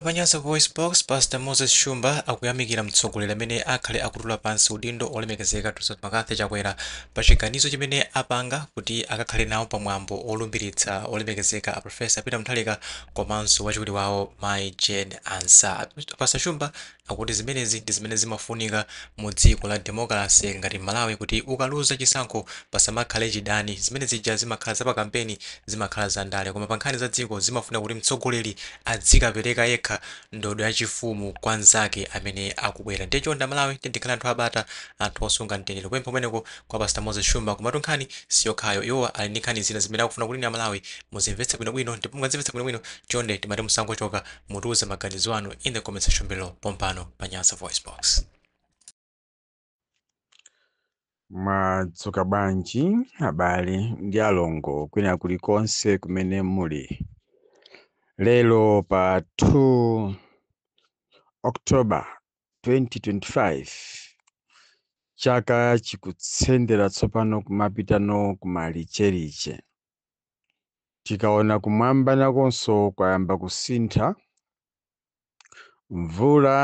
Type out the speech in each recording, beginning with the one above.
Pa Nyasa VoiceBox, Pastor Moses Shumba akuyamikira mtsogoleri amene akhale akutula pansi udindo Olemekezeka Dr McCarthy Chakwera pa chiganizo chimene apanga kuti akakhale nawo pa mwambo wolumbiritsa Olemekezeka a Professor Peter Mutharika komanso wachiwiri wawo Mayi Jane Ansah. Pastor Shumba akuti zimenezi ndi zimene zimafunika mu dziko la demokalase ngati Malawi kuti ukaluza chisankho pasamakhale chidani. Zimene zija zimakhala za pa kampeni, zimakhala za ndale koma pa nkhani za dziko zimafunika kuti mtsogoleri adzikapereka yekha ndodo yachifumu kwa nzake amene akubwera ndiye chonde amalawi tiyeni tikhale anthu abata anthu osunga mtendere kupempha kumeneko kwa pastor moses shumba komatu nkhani siyokhayo iwo ali ndi nkhani zina zimene akufuna kuti inu amalawi muzimvetse bwinobwino ndipo mukazimvetsa bwinobwino chonde timati musangochoka mutiuze maganizo anu in the comment section below pompano pa nyasa voice box Mwadzuka bwanji abale ndi alongo kwina kulikonse kumene muli lero pa 2 October 2025 chaka chikutsendera tsopano kumapitano kumalicheliche tikaona kumwamba nakonso kwayamba kusintha Mvula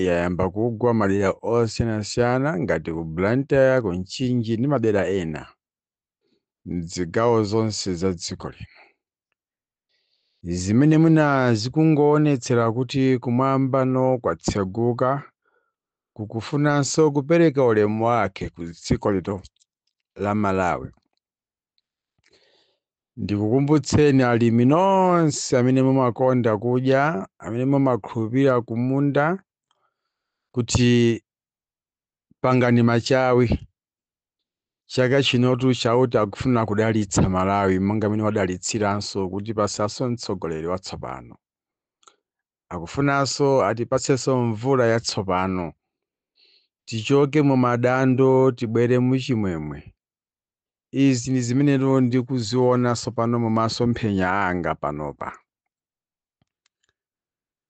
yayamba kugwa madera osiyanasiyana ngati ku Blantyre, ku Mchinji ndi madera ena m'zigawo zonse za dziko lino, zimene mwina zikungoonetsera kuti kumwambano kwatseguka, kukufunanso kupereka ulemu wake ku dziko lino la Malawi. ndikukumbutseni alimi nonse amene mumakonda kudya amene mumakhulupirira kumunda kuti pangani machawi chaka chinotu chauta akufuna kudalitsa malawi monga amene wadalitsiranso kutipatsanso mtsogoleri watsopano akufunanso atipatsenso mvula yatsopano tichoke mu madando tibwere muchimwemwe Izi ndi zimenetu ndikuziona tsopano mu masomphenya anga panopa.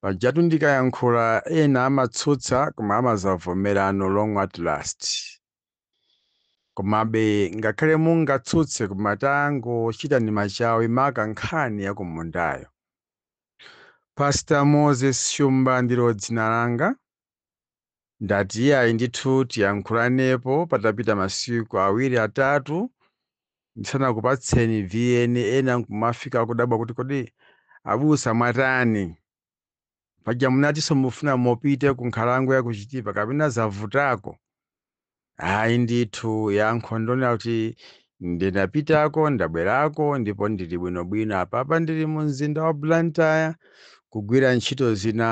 Pajatu ndikayankhula ena amatsutsa koma amadzavomerano long at last. Komabe ngakhale mungatsutse koma tangochitani machawi maka nkhani ya kumundayo. Pastor Moses Shumba ndilo dzina langa. Ndati iyayi ndithu tiyankhulanepo patapita masiku awiri atatu ndisanakupatseni vn ena nkumafika kudabwa kuti kodi abusa mwatani paja munatinso mufuna mupite ku nkhalango ya ku chitipa kapena zavutako ayi ndithu yankho ndonena kuti ndinapitako ndabwerako ndipo ndili bwinobwino apapa ndili mu mzinda wa blantyre kugwira ntchito zina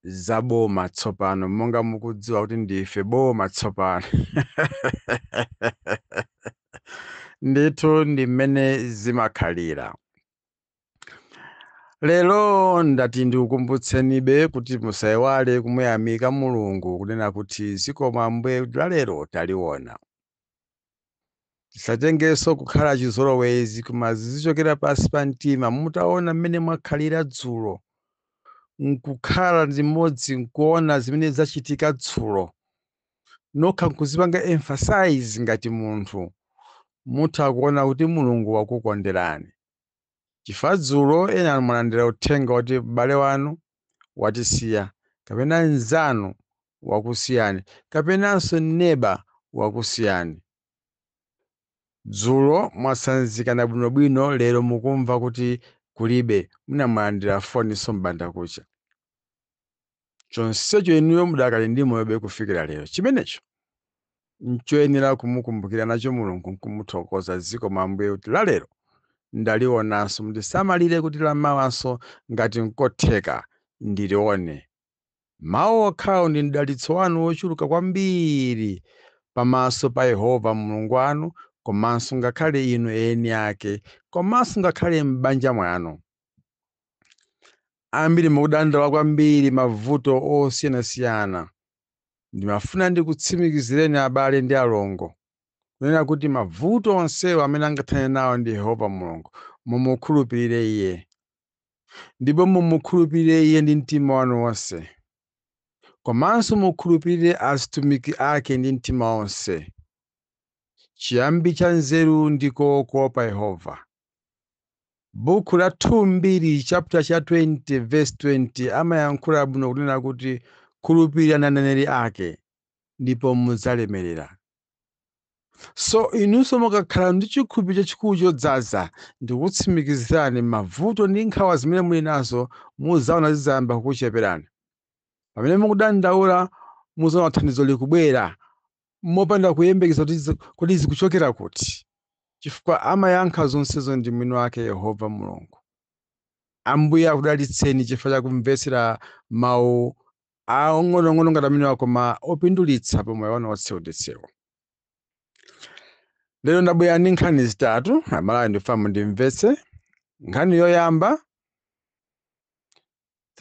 za boma tsopano monga mukudziwa kuti ndife boma tsopano ndithu ndi mmene zimakhalira lero ndati ndikukumbutsenibe kuti musaiwale kumuyamika mulungu kunena kuti zikomo ambuye kuti lalero taliona tisatengenso kukhala chizolowezi koma zizichokera pansi pa mtima mutaona mmene mwakhalira dzulo nkukhala zimodzi nkuona zimene zachitika dzulo nokha nkuzipanga emphasize ngati munthu mutha kuona kuti mulungu wakukonderani chifukwa dzulo ena mwalandira uthenga kuti m'bale wanu watisiya, kapena mnzanu wakusiyani, kapenanso neba wakusiyani. Dzulo mwatsanzikana bwinobwino lero mukumva kuti kulibe, mwina mwalandira foninso m'bandakucha. chonsecho inuyo mudakali ndi moyobe kufikira lero chimenecho nchoyenera kumukumbukira nacho mulungu nkumuthokoza zikomo ambuye kuti la lero ndalionanso mundisamalire kuti la mawanso ngati nkotheka ndilione mawu okhawo ndi mdalitso wanu wochuluka kwambiri pamaso pa yehova mulungu wanu komanso ngakhale inu eni ake komanso ngakhale m'banja mwanu ambiri mukudandaula kwambiri mavuto osiyanasiyana, ndimafuna ndikutsimikizireni abale ndi alongo, kunena kuti mavuto onsewo amene angathane nawo ndi Yehova Mulungu, mumukhulupirire Iye. Ndipo mumukhulupirire Iye ndi mtima wanu wonse. Komanso mukhulupirire azitumiki ake ndi mtima wonse. Chiyambi cha nzeru ndiko kuopa Yehova. Buku la 2 chapter cha 20 verse 20 amayankhula bwino kunena kuti khulupirirani aneneri ake ndipo mudzalemerera. So inunso mukakhala ndi chikhulupiriro chachikulu chodzaza ndikutsimikizirani mavuto ndi nkhawa zimene muli nazo mudzaona zidzayamba kukucheperani. Pamene mukudandaula mudzaona thandizo likubwera mopanda kuyembekeza kuti zi- kodi zikuchokera kuti chifukwa amayankha zonsezo ndi mwini wake yehova mulungu ambuye akudalitseni chifukwa cha kumvetsera mawu aong'onoong'ono ngati amenewa koma opindulitsa pa moyo wanu wotsewu lero ndabwera ndi nkhani zitatu amalawi ndikufuna ndimvetse nkhani yoyamba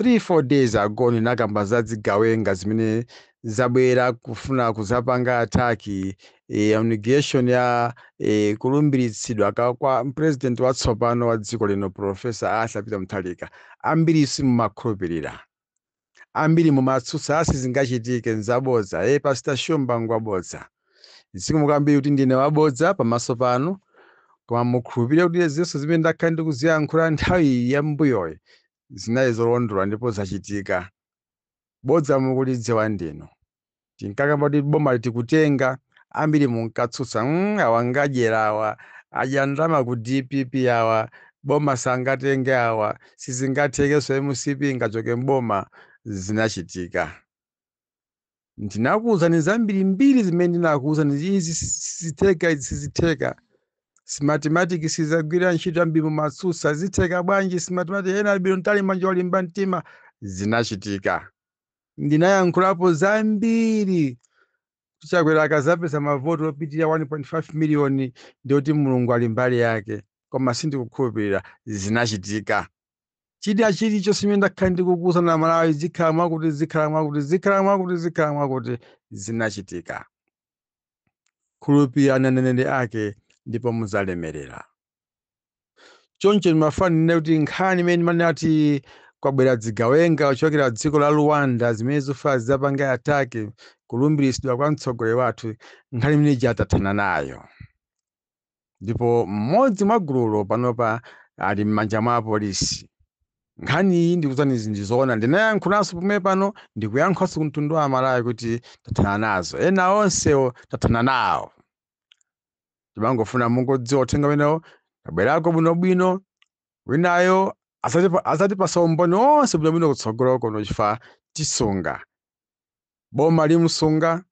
3 4 days ago ndinakamba za dzigawenga zimene zabwera kufuna kuzapanga attack eh, inauguration ya eh, kulumbiritsidwa kwa president watsopano wa dziko lino professor Arthur Peter Mutharika ambiri simumakhulupirira ambiri mumatsutsa asi zingachitike nzabodza eh pastor Shumba ngwabodza zikomo kwambiri kuti ndine wabodza pamaso panu koma mukhulupirire kuti zonse zimene ndakhala ndikuziyankhula nthawi yambuyoyi zinali zolondola ndipo zachitika. Bodza mukulidziwa ndinu. Tinkakamba kuti boma likutenga, ambiri munkatsutsa, mm, awa ngadyera awa, adya ndalama ku dpp awa, boma sangatenge awa, sizingathekenso mcp ingachoke m'boma. Zinachitika. ndinakuuzani zambirimbiri zimene ndinakuuzani kuti izi sizitheka izi sizitheka smatimatiki sizagwira ntchito ambiri mumatsutsa zitheka bwanji smatimatiki ena albino ntali manja olimba mtima zinachitika ndinayankhulapo zambiri chakwera akazapeza mavoti opitirira 1.5 miliyoni ndiye kuti mulungu ali mbali yake koma sindikukhulupirira zinachitika china chilichonse chimene ndakhala ndikukuuzani amalawi zikhala mwakuti zikhala mwakuti zikhala mwakuti zikhala mwakuti zinachitika khulupirirani aneneri ake ndipo muzalemerera choncho ndimafuna ndinene kuti nkhani imene ndimanena kuti kwabwera dzigawenga kuchokera dziko la rwanda zimene zimafuna zizapange ataki kulumbiritsidwa kwa mtsogoleri wathu nkhani imene ija tathana nayo ndipo mmodzi mwa gululo panopa ali m'manja mwa apolisi. Nkhani iyi ndikuzani izi ndi zoona, ndinayankhulanso pomwe pano ndikuyankhulanso ku mtundu wa Amalawi kuti tathana nazo, ena onsewo tathana nawo. Timangofuna mungodziwa uthenga umenewo, tabwerako bwinobwino, winayo azatipa- azatipasa umboni wonse bwinobwino kutsogolo kuno chifukwa tisunga boma limusunga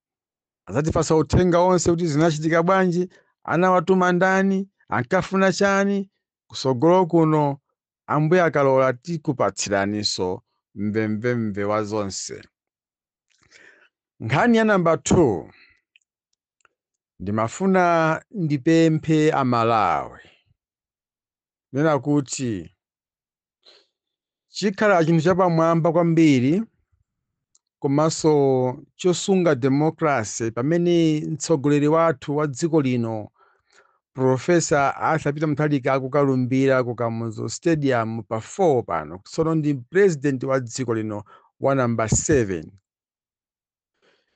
azatipasa uthenga wonse kuti zinachitika bwanji anawatuma ndani ankafuna chani kusogolo kuno ambuye akalola tikupatsiraninso mvemvemve wa zonse nkhani ya namba 2 ndimafuna ndipemphe amalawi kunena kuti chikhala chinthu chapamwamba kwambiri komanso chosunga democracy pamene mtsogoleri wathu wa dziko lino profesa arthur peter mutharika akukalumbira ku kamuzu stadium pa 4 pano tsono ndi president wa dziko lino wa namba 7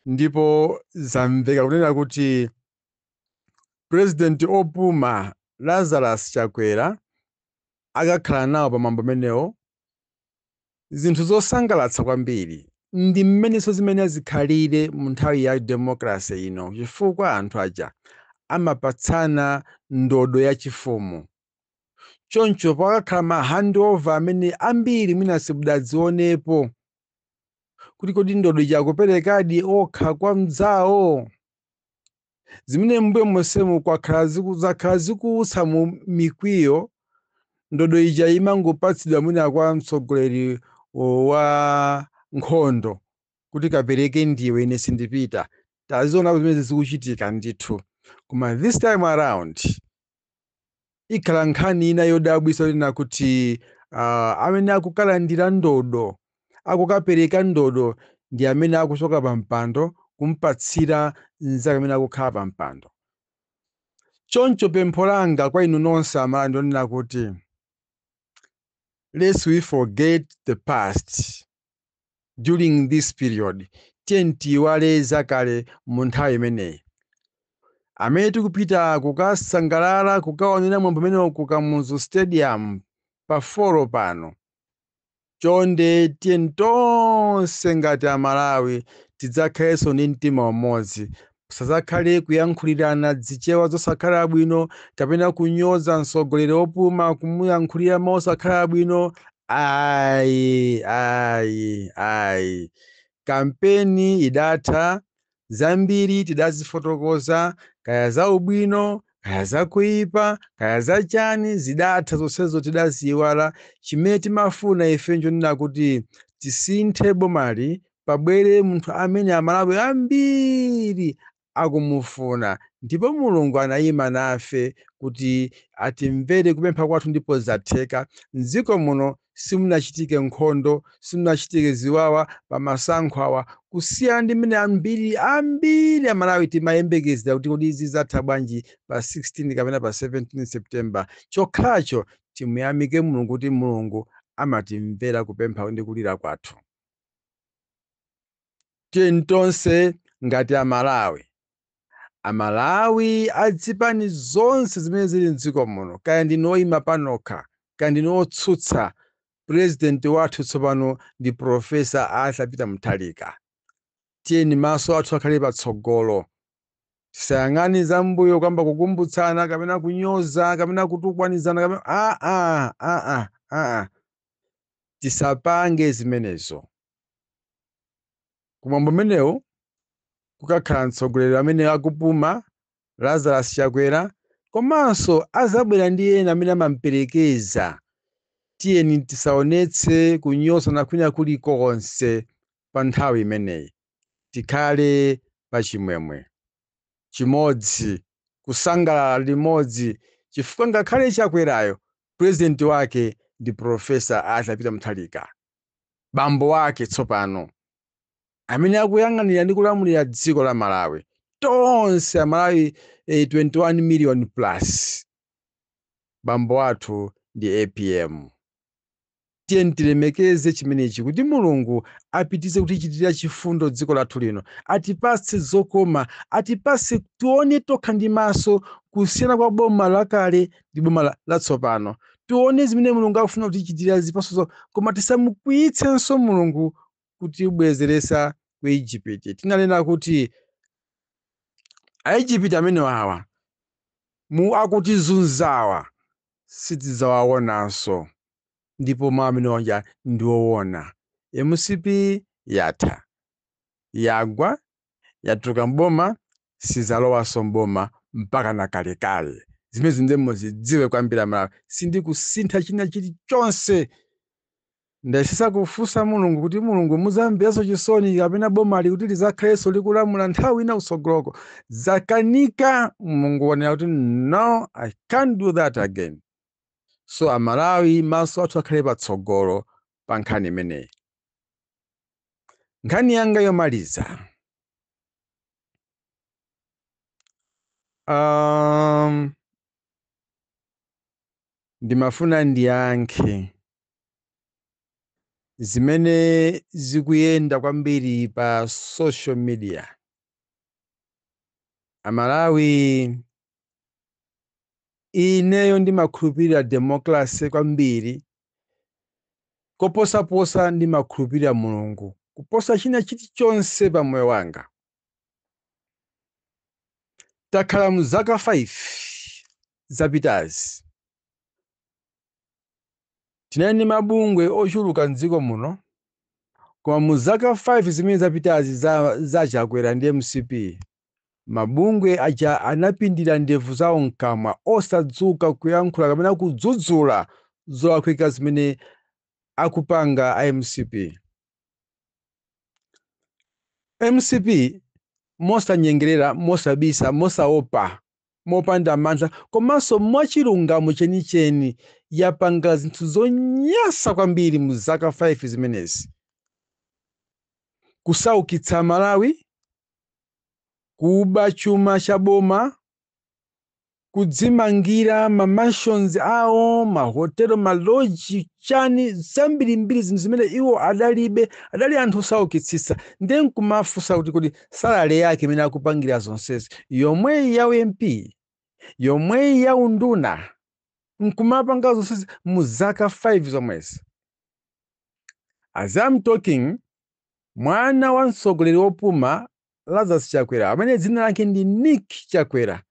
ndipo zamveka kunena kuti President opuma Lazarus Chakwera akakhala nawo pa mwambo umenewo zinthu zosangalatsa kwambiri ndi mmenenso zimenezi zikhalire mu nthawi ya democracy ino chifukwa anthu aja amapatsana ndodo yachifumu choncho pakakhala ma handover amene ambiri mwina simudadzionepo kuti kodi ndodo ija akuperekadi okha kwa mdzawo zimene mbuyo monsemu kwakhala ziku- zakhala zikuutsa mu mikwiyo ndodo ija imangopatsidwa mwina kwa mtsogoleri o, wa nkhondo kuti kapereke ndiwe ine sindipita taziona zimene zikuchitika ndithu koma this time around Ikhala nkhani ina yodabwitsa yonena kuti ah, amene akukalandira ndodo, akukapereka ndodo ndi amene akuchoka pa mpando kumpatsira mnzake amene akukhala pa mpando. Choncho pempho langa kwa inu nonse Amalawi ndilonena kuti lest we forget the past. during this period tiyeni tiyiwale zakale mu nthawi imeneyi amene tikupita kukasangalala kukaonera mwambo umenewo ku kamuzu stadium pa folo pano chonde tiyeni tonse ngati amalawi tidzakhalenso ndi mtima umodzi Kusazakhale kuyankhulirana dzichewa zosakhala bwino kapena kunyoza mtsogoleri opuma kumuyankhulira mau osakhala bwino ayi ayi ayi kampeni idatha zambiri tidazifotokoza kaya zaubwino kaya zakuipa kaya zachani zidatha zonsezo tidaziiwala chimene timafuna ife nchonena kuti tisinthe bomali pabwere munthu amene Amalawi ambiri akumufuna ndipo Mulungu anayima nafe kuti atimvere kupempha kwathu ndipo zatheka. M'dziko muno simunachitike nkhondo, simunachitike ziwawa pamasankho awa kusiyana ndi mmene ambiri ambiri Amalawi timayembekezera kuti kodi zidzatha bwanji pa 16 kapena pa 17 September. Chokhacho timuyamike Mulungu kuti Mulungu amatimvera kupempha ndi kulira kwathu. tiyeni tonse ngati amalawi amalawi adzipani zonse zimene zili mdziko muno kaya ndinu oyima panokha kaya ndinu otsutsa purezidenti wathu tsopano ndi profesa arthur peter mutharika tiyeni maso athu akhale patsogolo tisayang'ane zambuyo kamba kukumbutsana kapena kunyoza kapena kutukwanizana kapena aa aa aa tisapange zimenezo. Kumwambo umenewu kukakhala mtsogoleri amene akupuma, Lazarus Chakwera, komanso azabwera ndi ena amene amamperekeza. Tiyeni tisaonetse kunyozana kwina kulikonse pa nthawi imeneyi, tikhale pachimwemwe. chimodzi kusangalala limodzi chifukwa ngakhale chakwerayo president wake ndi professor Arthur Peter Mutharika bambo wake tsopano amene akuyang'anira ndi kulamulira dziko la Malawi tonse amalawi eh, 21 million plus bambo wathu ndi APM Tiyeni tilemekeze chimenechi kuti Mulungu apitize kutichitira chifundo dziko lathu lino, atipatse zokoma, atipatse tione tokha ndi maso kusiyana kwa boma lakale ndi boma latsopano. Tione zimene Mulungu akufuna kutichitira zipatso, koma tisamukwiyitsenso Mulungu kutibwezeretsa ku Igupiti. Tinanena kuti Aigupiti amene wawa mu akutizunzawa sitidzawaonanso ndipo mau amene aja ndiowona mcp yatha yagwa yatuluka m'boma sidzalowanso m'boma mpakana kalekale zimenezi ndiye muzidziwe kwambiri amalawi sindikusintha china chilichonse. Ndayesesa kufunsa Mulungu kuti Mulungu muzamverenso chisoni kapena bomali kuti lizakhaleso likulamula nthawi ina kusogoloko. Zakanika Mulungu wanena kuti no I can't do that again. So a Malawi maso athu akhale patsogolo pa nkhani imeneyi. Nkhani yanga yomaliza. Um, ndimafuna ndiyankhe zimene zikuyenda kwambiri pa social media amalawi ineyo ndimakhulupirira democracy kwambiri koposaposa ndimakhulupirira mulungu kuposa china chilichonse pa moyo wanga takhala mu zaka 5 zapitazi Tinali ndi mabungwe ochuluka m'dziko muno koma mu zaka 5 zimene zapitazi za za a Chakwera ndi mcp, mabungwe aja anapindira ndevu zawo mkamwa osadzuka kuyankhula kapena kudzudzula zolakwika zimene akupanga a mcp. Mcp mosanyengerera, mosabisa, mosaopa mopanda mantha komanso mwachilungamo chenicheni, yapanga zinthu zonyasa kwambiri mu zaka 5 zimenezi. Kusaukitsa Malawi, kuba chuma cha boma, kudzimangira ma mansions awo, ma hotelo, ma loji, chani zambirimbiri zinthu zimene iwo adalibe, adali anthu osaukitsitsa. Ndiye nkumafunsa kuti kodi salary yake imene akupangira zonsezi yomweyi ya u MP yomweyi ya unduna nkumapanga zonse mu zaka 5 zomwezi as I'm talking mwana wa mtsogoleri wopuma lazarus chakwera amene dzina lake ndi nick chakwera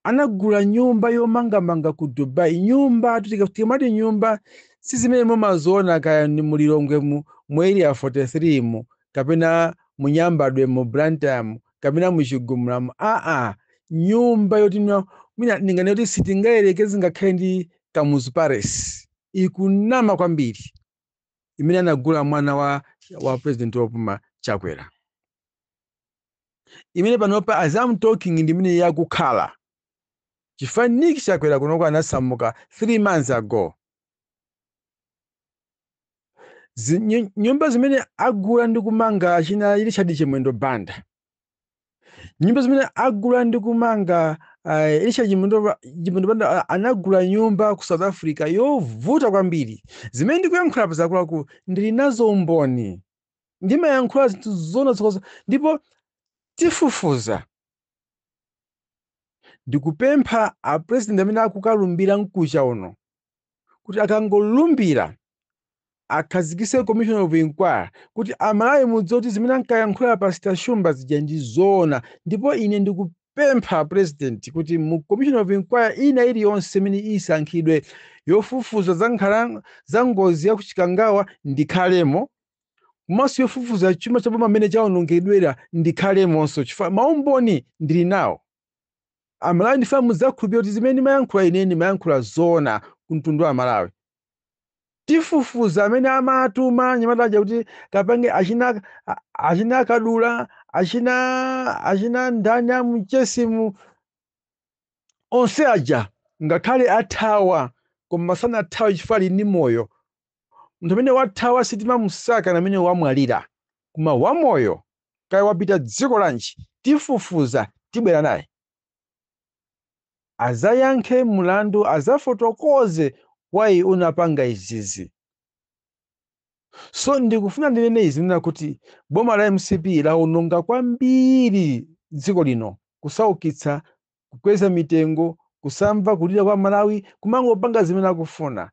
Anagula nyumba yomangamanga ku Dubai. Nyumba tu tika- tikamati nyumba si zimene mumaziona kaya ni mu Lilongwe mu, mu area 43 mu kapena mu Nyambadwe mu Blantyre mu kapena mu Chigumula mu. Aa, nyumba yoti mwa- mwina ndinganene kuti sitingayerekeze ngakhale ndi Kamuzu Palace. Ikunama kwambiri imene anagula mwana wa wa president wopuma Chakwera. imene panopa as I'm talking ndi imene iye akukhala chifukwa nick chakwera kunoko anasamuka 3 months ago Zi- nyu- nyumba zimene agula ndi kumanga achina richard chimwendo banda nyumba zimene agula ndi kumanga uh, richard chimwendo Ba- Chimwendo banda ah, anagula nyumba ku south africa yovuta kwambiri zimene ndikuyankhula pa zakuluakulu ndili nazo umboni ndimayankhula zinthu zoona zokhazokha ndipo tifufuza ndikupempha a president amene akukalumbira mkucha uno kuti akangolumbira akhazikise commission of inquiry kuti amalawi mudziwe kuti zimene ankayankhula pastor shumba zija ndi zoona ndipo ine ndiku- pempha president kuti mu Commission of Inquiry ina iliyonse imene isankhidwe yofufuza za za ngozi ya ku Chikangawa ndikhalemo komanso yofufuza chuma cha boma mmene chawonongedwera ndikhalemonso chifukwa maumboni ndili nawo. Amalawi ndifuna mudzakhulupirire kuti zimene ndimayankhula ine ndimayankhula zoona ku mtundu wa Amalawi. tifufuza amene amatuma anyamata aja kuti akapange achina a- achina kadula achina achina ndani amuchesimu onse aja ngakhale athawa koma sanathawe chifukwa ali ndi moyo munthu amene wathawa sitimamusaka ndi amene wamwalira koma wamoyo kaya wapita dziko lanji tifufuza tibwera naye azayankhe mulandu azafotokoze why unapanga izizi so ndikufuna ndinene izi nena kuti boma la mcp laononga kwambiri dziko lino kusaukitsa kukweza mitengo kusamva kulira kwa amalawi kumangopanga zimene akufuna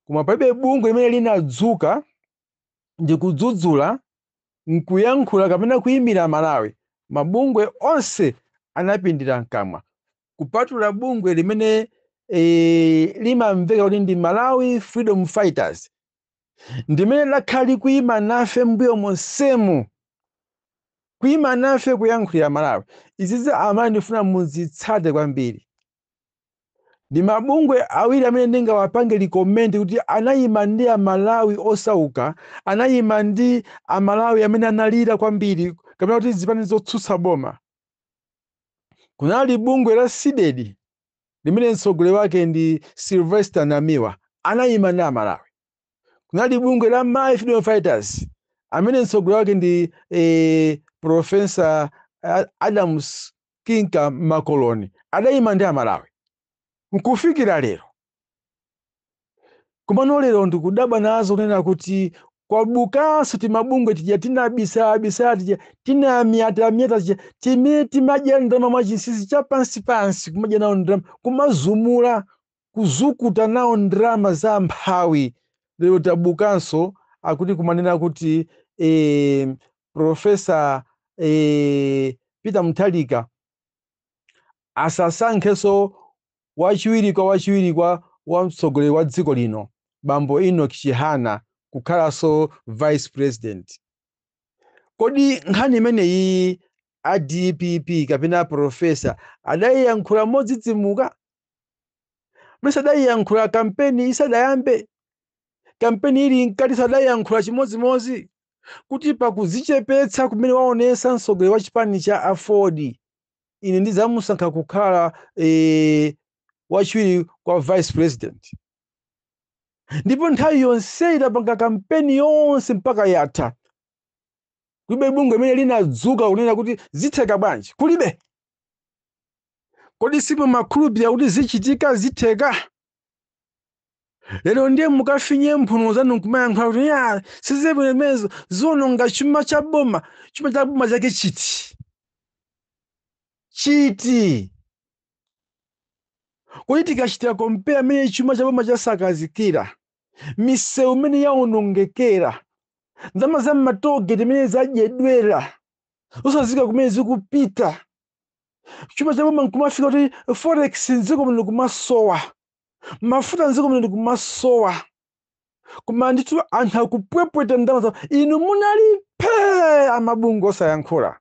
koma palibe bungwe limene linadzuka ndi kudzudzula nkuyankhula kapena kuyimira Malawi, mabungwe onse anapindira mkamwa kupatula bungwe limene e, limamveka kuti ndi Malawi Freedom Fighters ndimene lakhala likuyima nafe mbuyo monsemu kuyima nafe kuyankhulira Malawi. Izizi Amalawi ndikufuna muzitsate kwambiri. ndi mabungwe awiri amene ndingawapange recommend kuti anayima ndi amalawi osauka anayima ndi amalawi amene analira kwambiri kapena kuti zipani zotsutsa boma kunali bungwe la cdedi limene mtsogoleri wake ndi sylvester namiwa anayima ndi amalawi kunali bungwe la malawi freedom fighters amene mtsogoleri wake ndi eh, profesa adams kinka makoloni adayima ndi amalawi nkufikira lero komano lero ndikudabwa nazo kunena kuti kwabukanso timabungwe tija tinabisalabisala tija tinamyatamyata tija timene timadya ndalama mwachinsinsi chapansipansi kumadya nawo ndalama kumazumula kuzukuta nawo ndalama za amphawi lero tabukanso akuti kumanena kuti eh, professor eh, peter mutharika asasankhenso wachiwiri kwa wachiwiri kwa wa mtsogoleri wa dziko lino bambo enoch chihana kukhalanso vice president kodi nkhani imeneyi a dpp kapena profesa adayiyankhula modzidzimuka mesa adayiyankhula kampeni isadayambe kampeni ili mkati sadayiyankhula chimodzimodzi kuti pakudzichepetsa kumene waonesa mtsogoleri wa chipani cha aford ine ndidzamusankha kukhala e, wachiwiri kwa vice president ndipo nthawi yonse idapanga kampeni yonse mpaka yatha kulibe bungwe limene linadzuka kunena kuti zitheka bwanji kulibe kodi simumakhulupirira kuti zichitika zitheka lero ndiye mukafinye mphuno zanu nkumayankhula kuti a zimenezo ziononga chuma cha boma chuma cha boma chake chiti chiti kodi tikachitira kompera mmene chuma cha boma chasakazidwira misewu imene yaonongekera ndalama za mmatogeti imene zadyedwera zosadziwika kumene zikupita chuma cha boma nkumafika kuti forex mdziko muno kumasowa mafuta mdziko muno kumasowa koma ndithu anthu akupwepweta ndalama zawo inu munali phee amabungwe osayankhula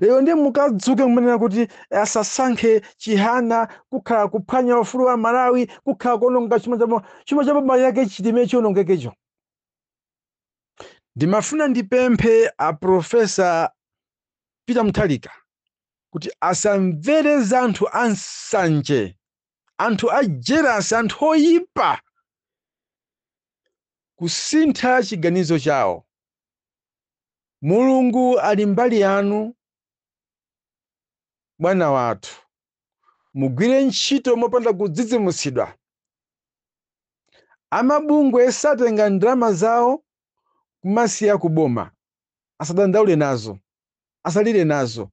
lero ndiye mukadzuke kumanena kuti asasankhe chihana kukhala kuphwanya ufulu wa amalawi kukhala kuononga chuma cha boma chuma cha boma chake chiti chimene chionongekecho ndimafuna ndipemphe a profesa peter mutharika kuti asamvere za anthu ansanje anthu a jealous anthu oyipa kusintha chiganizo chawo mulungu ali mbali yanu bwana wathu mugwire ntchito mopanda kudzidzimutsidwa. Amabungwe satenga ndalama zawo kumasiya ku boma, asadandaule nazo, asalire nazo.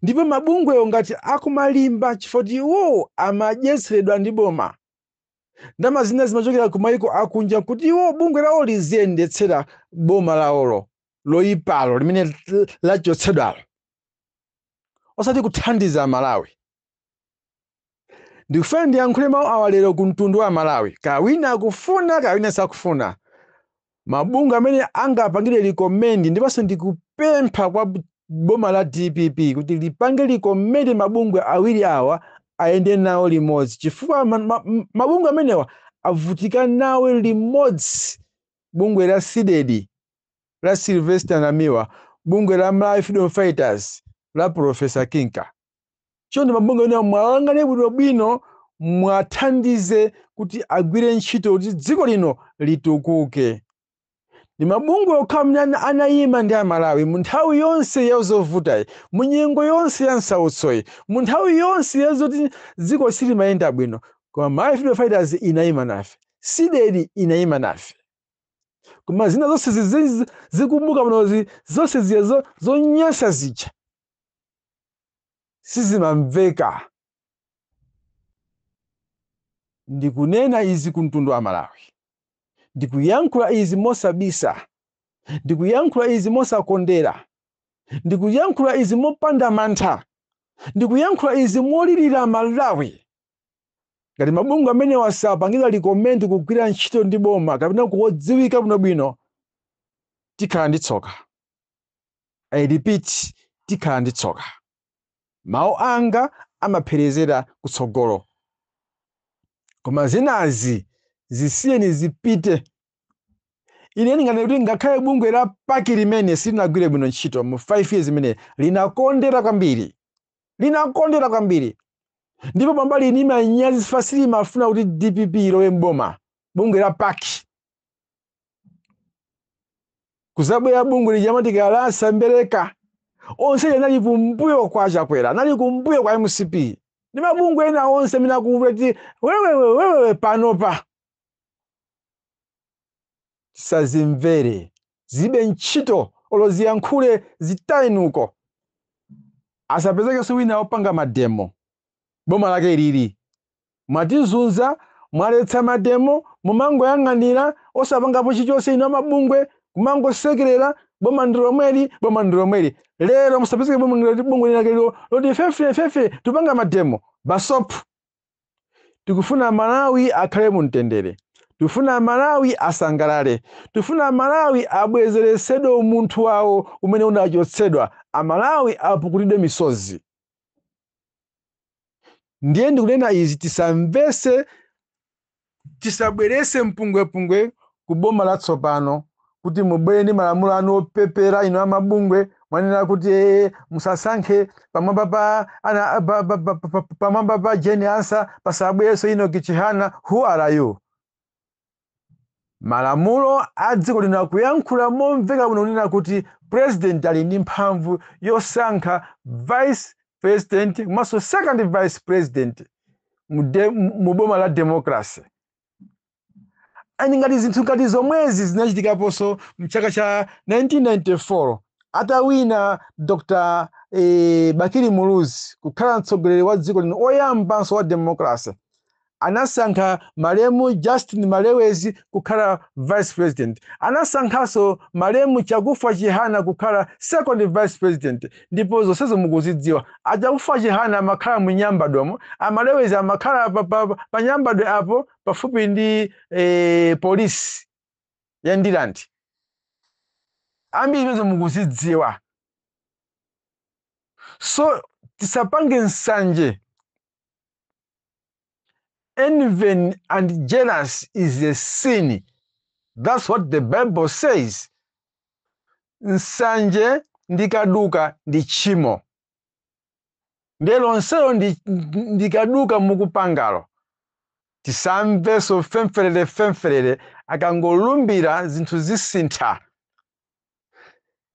Ndipo mabungwewo ngati akumalimba chifukwa choti iwowo amadyetseredwa ndi boma, ndalama zina zimachokera ku mayiko akunja kuti iwo bungwe lawo liziyendetsera boma lawolo loyipalo limene lachotsedwalo. osati kuthandiza amalawi ndikufuna ndiyankhule mawu awa lero ku mtundu wa amalawi kaya wina akufuna kaya wina sakufuna mabungwe amene ndingapangire likomendi ndiponso ndikupempha kwa b- boma la dpp kuti lipange likomendi mabungwe awiri awa ayende nawo limodzi chifukwa ma- ma- m- mabungwe amenewa avutika nawo limodzi bungwe la cdedi la Sylvester Namiwa, bungwe la Malawi Freedom Fighters la Professor Kinka. Chonde mabungwe amenewa muwayang'ane bwinobwino muwathandize kuti agwire ntchito kuti dziko lino litukuke. Ndi mabungwe okha amene ana- anayima ndi Amalawi mu nthawi yonse ya zovutayi, mu nyengo yonse ya nsautsoyi, mu nthawi yonse ya zoti dziko silimayenda bwino, koma Malawi Freedom Fighters inayima nafe, CDEDI inayima nafe. koma zina zonse zizi- zikumbuka muno zonse zija zo- zonyansa zija sizimamveka ndikunena izi ku mtundu wa malawi ndikuyankhula izi mosabisa ndikuyankhula izi mosakondera ndikuyankhula izi mopanda mantha ndikuyankhula izi molirira malawi ngati mabungwe amenewa sapanga recommend kugwira ntchito ndi boma kapena kudziwika bwinobwino tikhala ndi tsoka i repeat tikhala ndi tsoka mawu anga amapherezera kutsogolo koma zinazi zisiyeni zipite ine ndinganene kuti ngakhale bungwe la pac limene silinagwire bwino ntchito mu 5 years imene linakondera kwambiri linakondera kwambiri ndipo pamba lili ndi manyazi chifukwa silimafuna kuti dpp ilowe mboma bungwe la pac kuzabwera bungwe lija ma trapence a sembereka onse aja anali kumbuyo kwa chakwera anali kumbuyo kwa mcp ndi mabungwe ena onse amene akuvuta kuti wewewewewewe panopa tisazimvere zilibe ntchito olo ziyankhule zitayeni uko. Asapezekenso wina opanga mademo. Boma lake ilili. Mwatizunza, mwaletsa mademo, mumangoyang'anira osapangapo chilichonse inu amabungwe kumangosekerera boma ndi lomweli, boma ndi lomweli. Lero musapezeke bungwe linake lilo loti ife ife tupanga mademo. Basop tikufuna malawi akhale mu mtendere tikufuna amalawi asangalale tikufuna amalawi abwezeretsedwe umunthu wawo umene unachotsedwa amalawi apukutidwe misozi ndiye ndikunena izi tisamvese tisabwerese mpungwepungwe ku boma latsopano kuti mubwere ndi malamulo anu opepera inu amabungwe mwanena kuti ee musasankhe pamwamba pa ana pa- pa- pa- pa- pa- pamwamba pa jane ansah pasabwereso enock chihana who are you Malamulo a dziko lino akuyankhula momveka bwino kunena kuti president ali ndi mphamvu yosankha vice president komanso second vice president mu de- mu boma la democracy and ngati zinthu ngati zomwezi zinachitikaponso mchaka cha 1994 atawina dr eh, bakili muluzi kukhala mtsogoleri wa dziko lino oyambanso wa democracy Anasankha malemu Justin Malewezi kukhala Vice President. Anasankhanso malemu Chakufa Chihana kukhala Second Vice President ndipo zonsezo mukuzidziwa. A Chakufa Chihana amakhala mu Nyambadwemo, a Malewezi amakhala pa, pa, pa Nyambadwe apo pafupi ndi eh, polisi ya Ndirande. Ambiri izo mukuzidziwa. So tisapange nsanje Envy and jealous is a sin. That's what the Bible says. Nsanje ndi kaduka ndi tchimo. Ndiye lonselo ndi, ndi kaduka mukupangalo. Tisamvenso femferere femferere akangolumbira zinthu zisintha.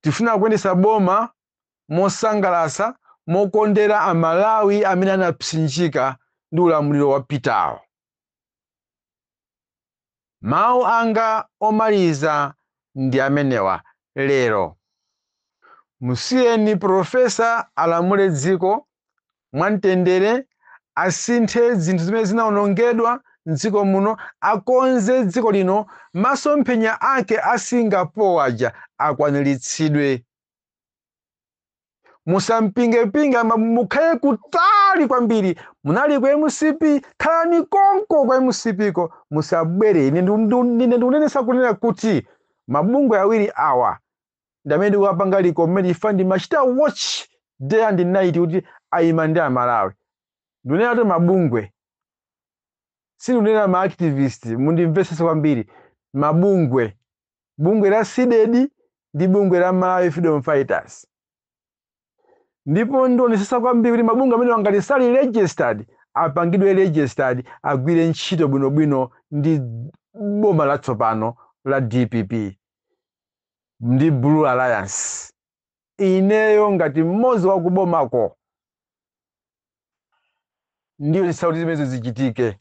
Tifuna kuyendesa boma mosangalatsa mokondera a Malawi amene anapsinjika ndi ulamuliro wapitawo. Mawu anga omaliza ndi amenewa lero. Musiyeni Professor alamule dziko mwamtendere, asinthe zinthu zimene zinaonongedwa m'dziko muno, akonze dziko lino, masomphenya ake a Singapore aja akwaniritsidwe. musampingepinge mukhale kutali kwambiri munali ku mcp khalani konko kwa mcp ko musabwere ine ndu- ndu- ndine ndikunenesa kunena kuti mabungwe awiri awa ndi amene ndikuwapanga recommend chifukwa ndimachita watch day and night kuti ayima ndi amalawi ndinena kuti mabungwe sindinena ma activist mundimvesese kwambiri mabungwe bungwe la Cdedi ndi bungwe la Malawi Freedom Fighters. Ndipo ndionesesa kwambiri kuti mabungwe amenewa ngati sali registered apangidwe registered agwire ntchito bwinobwino ndi boma latsopano la DPP ndi Blue Alliance. ineyo ngati mmodzi wa kubomako ndionesesa kuti zimenezo zichitike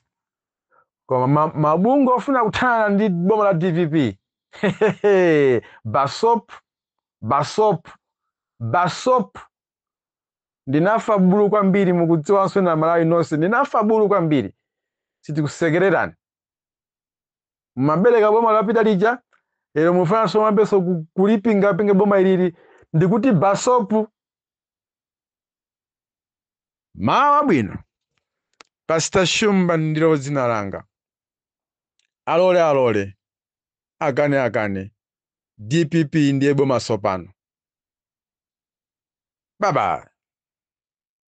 koma ma- mabungwe ofuna kuthana ndi boma la dpp basop basop basop ndinafa bulu kwambiri mukudziwanso amalawi nonse ndinafa bulu kwambiri sitikusekererani mumaberekera boma lapita lija lero mufunanso muyambenso ku- kulipingapinga boma ilili ndikuti basopu mawa wabwino pasita shumba ndilo dzina langa alole alole akane akane dpp ndiye boma sopano bye bye